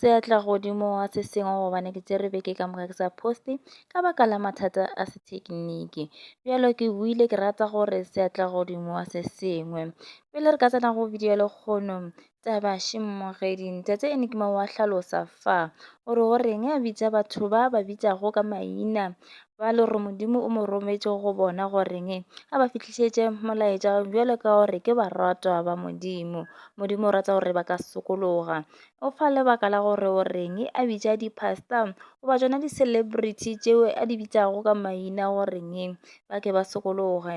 Seatla godimo wa se sengwe gobane ke tsere beke ka moka ke sa poste ka baka la mathata a sethekiniki bjalo ke buile ke rata gore seatla godimo wa se sengwe pele re ka tsena go video ya lekgono taba shimmogedi ntate enigma wa hlalosa fa o re go reng a bitsa batho ba ba bitsago ka maina ba le gore Modimo o mo rometše go bona goreng a ba fihlišetše molaetša bjalo ka gore ke baratwa ba Modimo. Modimo o rata gore ba ka sokologa. O fa lebaka la gore o reng a bitša di-pastor goba tšona di-celebrity tšeo a di bitšago ka maina goreng ba ke ba sokologe.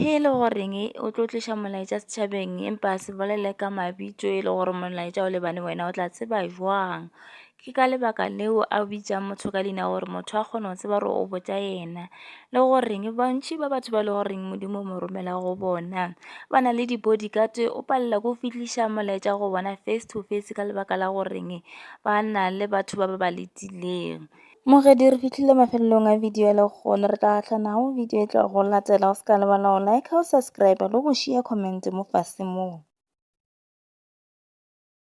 He e le goreng o tlo tliša molaetša setšhabeng empa a se bolele ka mabitso e le gore molaetša o lebane wena o tla tseba jwang. Ke ka lebaka leo a bitšang motho ka leina gore motho a kgone go tseba gore o botša ena, le goreng bantši ba batho ba e le goreng Modimo o mo romela go bona ba na le di-bodyguard o palela ke go fihliša molaetša go bona face to face ka lebaka la goreng ba na le batho ba ba ba letileng. Mogedi re fihlile mafelelong a video le gona re tla gahlanago video e tlago latela o se ka lebala go like o subscribe le go share comment mo fase moo.